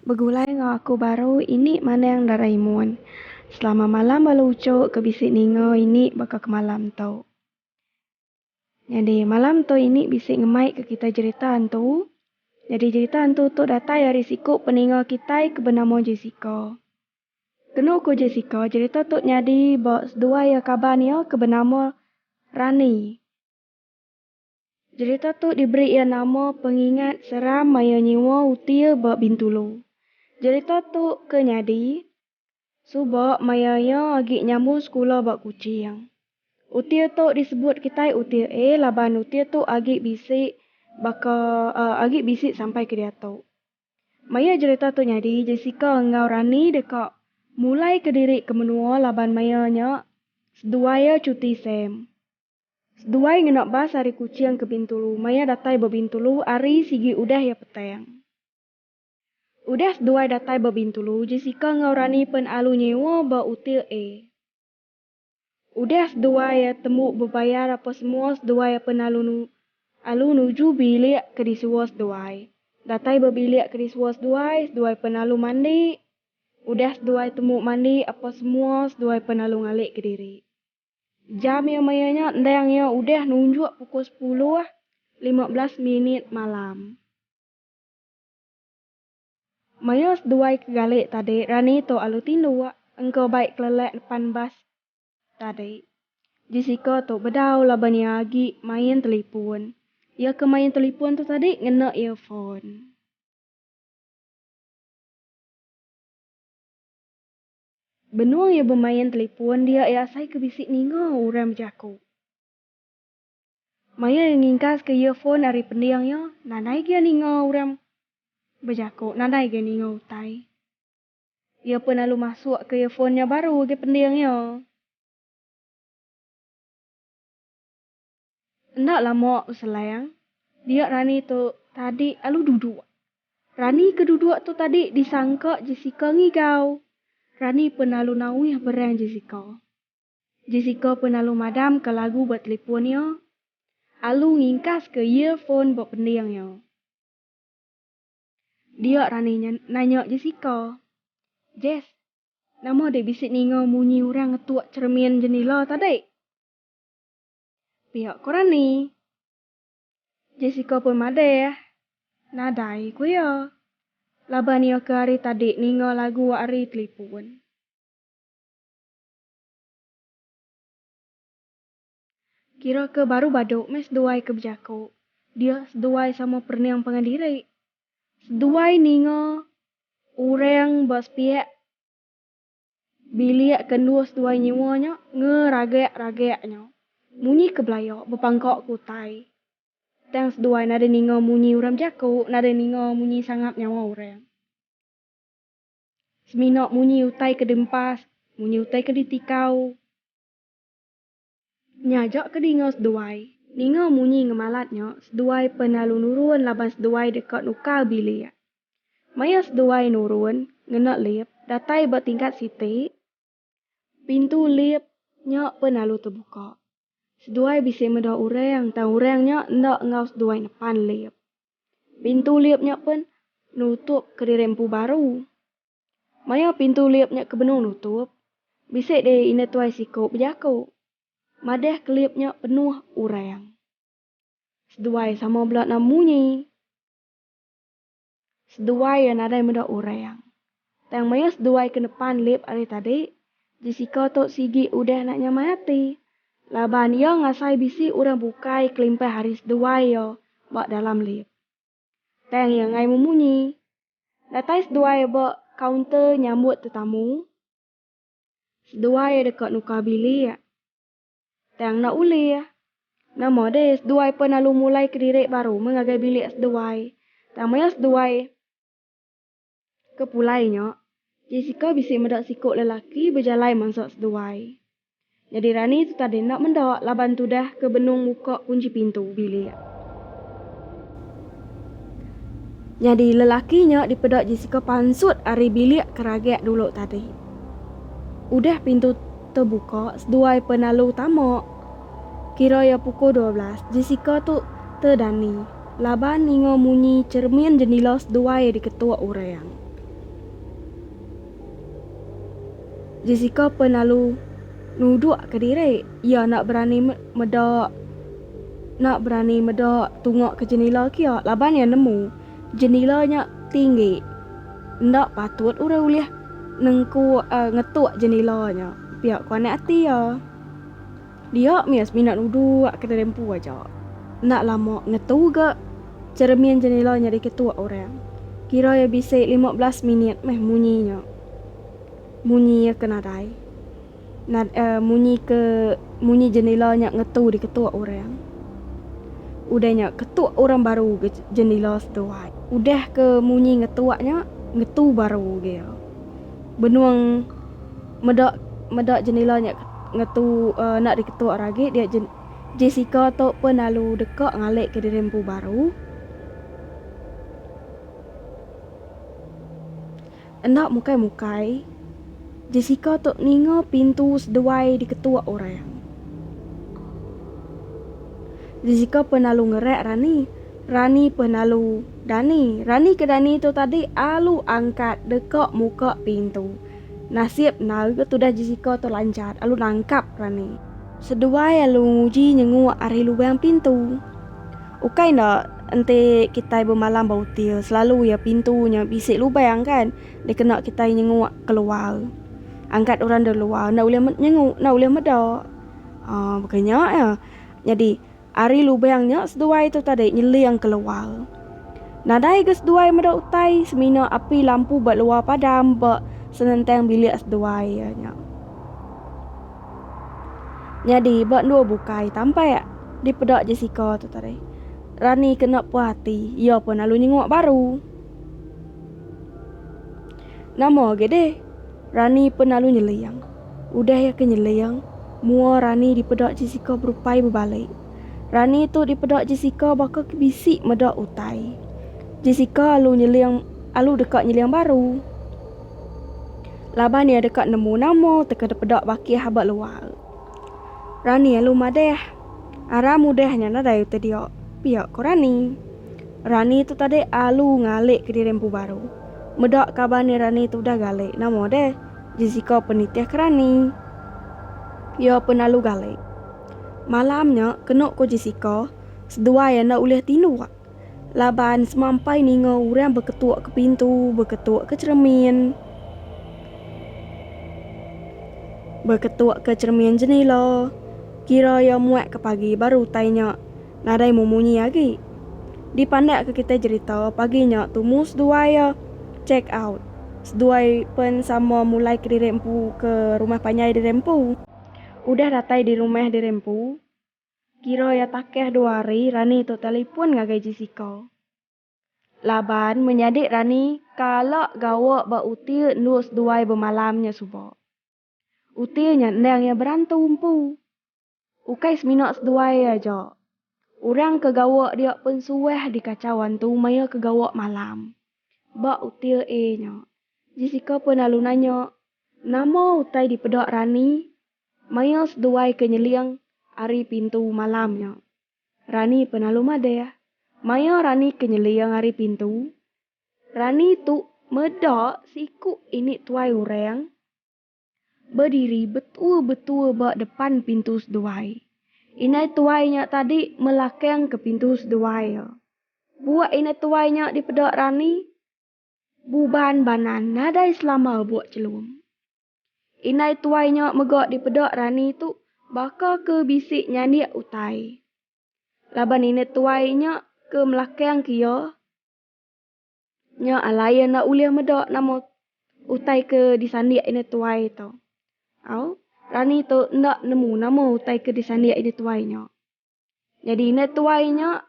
Begulai enggau aku baru ini Manang Doraemon. Selama malam bala ucuk ke bisi ninga ini baka ke malam tu. Nyadi malam tu ini bisi ngemaika kitai jerita hantu. Nyadi jerita hantu tu datai ari siku peninga kitai ke benama Jessica. Kenu ku Jessica, jerita tu nyadi ba seduai iya kaban iya ke benama Rani. Jerita tu diberi iya nama pengingat seram maya nyiwa uti iya ba Bintulu. Jerita tu ke nyadi suba maya iya agi nyambung sekula ba Kuching. Uti iya tu disebut kitai Uti A laban uti iya tu agi bisi baka agi bisi sampai ke diatu. Maya jerita tu nyadi, Jessica enggau Rani deka mulai kediri ke menua laban maya nya seduai iya cuti sem. Seduai ngena bas ari Kuching ke Bintulu maya datai ba Bintulu ari sigi udah iya petang. Udah seduai datai ba Bintulu, Jessica enggau Rani pen alu nyewa ba util A. Udah seduai iya tembu bebayar apa semua seduai iya pen alu alu nuju bilik ke disua seduai. Datai ba bilik ke disua seduai, seduai pen alu mandi. Udah seduai tembu mandi apa semua seduai pen alu ngalik ke diri. Jam iya maya nya endang iya udah nunjuk pukul sepuluh lima belas minit malam. Maya seduai ke gali tadi rani tu alu tindu engka bai kelelek depan bas tadi. Jessica tu bedau laban iya agi main telipun. Iya ke main telipun tu tadi ngena earphone. Benung iya bemain telipun dia iya asai ke bisi ninga orang bejaku. Maya iya ngingkaska earphone ari pending iya, nadai gia ninga orang bejako, nadai gia ninga utai. Iya pun lalu masukka earphone nya baru agi pending iya. Enda lama beselang, dia Rani tu tadi lalu duduk. Rani ke duduk tu tadi disangka Jessica ngigau. Rani pun lalu nauih berang Jessica. Jessica pun lalu madam ka lagu ba telipon iya, alu ngingkas ka earphone ba pending iya. Dia rani nanya Jessica, Jess, nama deh bisi ninga munyi orang ngetuk cermin jendila tadi? Pia ko rani. Jessica pun madah, Nadai ko iya, laban iya ke hari tadi ninga lagu ari telipon. Kira ke baru badu meh seduai ke bejaku. Dia seduai sama perening pangan diri. Seduai ninga orang ba sepiak bilik ke endur seduai nyewa nya ngeragak-ragak nya munyi ke belaya bepangka ke utai. Tang seduai nadai ninga munyi orang bejaku, nadai ninga munyi sangap nyawa orang. Semina munyi utai ke diempas, munyi utai ke ditikau. Nya aja ke dinga seduai. Ninga munyi ngemalat nya, seduai pen lalu nurun laban seduai deka nukar bilik. Maya seduai nurun, ngena lip, datai ba tingkat siti. Pintu lip nya pen lalu tebuka. Seduai bisi meda orang tang orang nya enda enggau seduai nepan lip. Pintu lip nya pen nutup kediri empu baru. Maya pintu lip nya ke benung nutup, bisi deh indah tuai siko bejako. Madah ke lip nya penuh orang. Seduai sama bela nama munyi. Seduai iya nadai meda urang. Tang maya seduai ke nepan lip ari tadi, Jessica tu sigi udah enda nyamai ati laban iya ngasai bisi urang bukai kelimpah ari seduai iya ba dalam lip. Tang iya enggai memunyi. Datai seduai iya ba kaunter nyambut tetamu. Seduai iya deka nukar bilik. Tang enda ulih. Nama deh seduai pen lalu mulai kediri baru meh ngagai bilik seduai. Tang maya seduai ke pulai nya, Jessica bisi meda siku lelaki bejalai mansa seduai. Nyadi rani tu tadi enda meda laban tudah ke benung muka kunchi pintu bilik. Nyadi lelaki nya dipeda Jessica pansut ari bilik ke ragek dulu tadi. Udah pintu tebuka seduai penalu tama. Kira iya pukul dua belas, Jessica tu tedani laban ninga munyi cheremin jendila seduai diketuk orang. Jessica penalu nuduk kediri. Iya enda berani meda enda berani meda tunga ke jenila kia laban iya nemu jenila nya tinggi enda patut orang ulih nengku uh, ngetuk jenila nya. Pia ku anak ati iya. Dia mih semina nuduk kediri empu aja. Enda lama ngetu ga ceremin jenila nya diketuk orang. Kira iya bisi lima belas minit meh munyi nya. Munyi iya ke nadai. Nad a munyi ke munyi jendela nya ngetu diketuk orang. Udah nya ketuk orang baru ke jendela seduai. Udah ke munyi ngetuk nya ngetu baru gea. Benung meda meda jendela nya ngetu enda diketuk orang agi dia Jessica tu pun lalu deka ngalik ke diri empu baru. Enda mukai-mukai, Jessica tu ninga pintu seduai diketuk orang. Jessica peh nalu ngerak Rani. Rani peh nalu Dani. Rani ke Dani tu tadi alu angkat deka muka pintu. Nasib endar ke tudah Jessica tu lanjat alu nangkap Rani. Seduai alu nguji nyenguk ari lubang pintu. Ukai enda, Enti kitai bemalam ba util, selalu iya pintu nya bisi lubang kan. Dikena kitai nyenguk keluar. Angkat orang dari luar enda ulih nyenguk, enda ulih meda. Uh, bukan nya ya. Jadi, ari lubang nya seduai tu tadi nyeling keluar. Nadai ke seduai meda utai semina api lampu ba luar padam ba senentang bilik seduai iya nya. Nyadi ba endur bukai tampak dipeda Jessica tu tadi. Rani kena puas ati, iya pun lalu nyenguk baru. Nama agi deh? Rani pun lalu nyeling. Udah iya ke nyeling, mua Rani dipeda Jessica berupai bebalik. Rani tu dipeda Jessica baka ke bisi meda utai. Jessica alu nyeling alu deka nyeling baru. Laban iya deka nemu nama teka dipeda bakih ba luar. Rani alu madah, Aram udah nya nadai utai dia, pia ku Rani. Rani tu tadi alu ngalihka diri empu baru. Meda kaban iya Rani tu udah galih nama deh, Jessica pen nitih ke Rani. Iya pen alu galih. Malam nya kenu ku Jessica seduai enda ulih tinduk. Laban semampai ninga orang beketuk ke pintu, beketuk ke cheremin, beketuk ke cheremin jenila, kira iya muak ke pagi baru utai nya nadai memunyi agi. Dipandakka kitai jerita pagi nya tumu seduai iya check out. Seduai pen sama mulai kediri empu ke rumah panjai diri empu. Udah datai di rumah diri empu, Kira iya takeh dua hari Rani tu telefon ngagai Jessica. Laban menyadi Rani kala gawa ba uti endur seduai bemalam nya suba. Uti nya endang iya berantu empu. Ukai semina seduai aja. Orang ke gawa dia pun suah dikachau antu maya ke gawa malam ba uti A nya. Jessica pun lalu nanya nama utai dipeda Rani Maya seduai ke nyeling ari pintu malam nya, Rani pun lalu madah. Maya Rani ke nyeling ari pintu, Rani tu meda seiku ini tuai orang bediri betua-betua ba depan pintu seduai. Inai tuai nya tadi melakangka pintu seduai iya. Buak inai tuai nya dipeda Rani, buban banan nadai selama buak chelum. Indai tuai nya mega dipeda rani tu baka ke bisi nyandik utai. Laban ini tuai nya ke melakangka iya nya alai iya enda ulih meda nama utai ke disandik indai tuai tu. Au, rani tu enda nemu nama utai ke disandik indai tuai nya. Nyadi indah tuai nya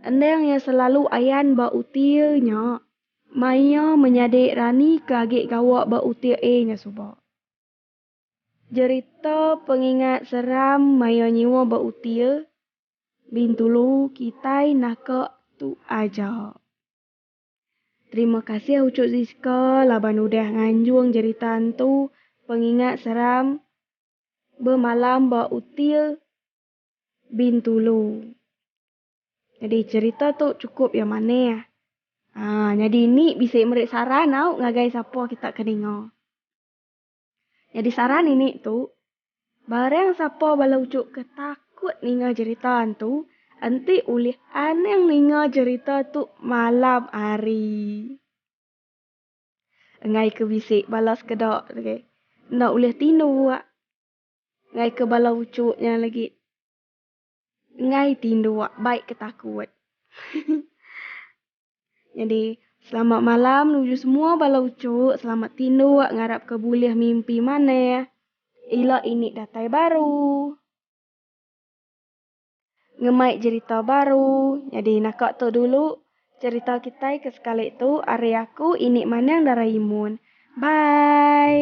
endang iya selalu ayan ba utir nya mai iya menyadi rani ke agi gawa ba utir A nya suba. Jerita pengingat seram maya nyiwa ba utir Bintulu kitai naka tu aja. Terima kasih Ucuk Zizka laban udah nganjung jerita hantu pengingat seram Bemalam ba Utir. Bintulu. Nyadi cerita tu cukup iya maneh. Haa nyadi indi bisi meri saran au ngagai sapa kita ke ninga. Nyadi saran ini tu barang sapa bala uchu ke takut ninga cerita antu enti ulih anang ninga cerita tu malam hari. Enggai ke bisi bala sekeda enda ulih tindu. Enggai ke bala uchu nya lagi. Enggai ti ndua bai ke takut. Nyadi selamat malam nuju semua bala uchu selamat tinduk ngarap ke bulih mimpi manah ila ini datai baru. Ngemai jerita baru nyadi naka tu dulu jerita kitai ke sekali tu ari aku ini manang dara imun. Bye.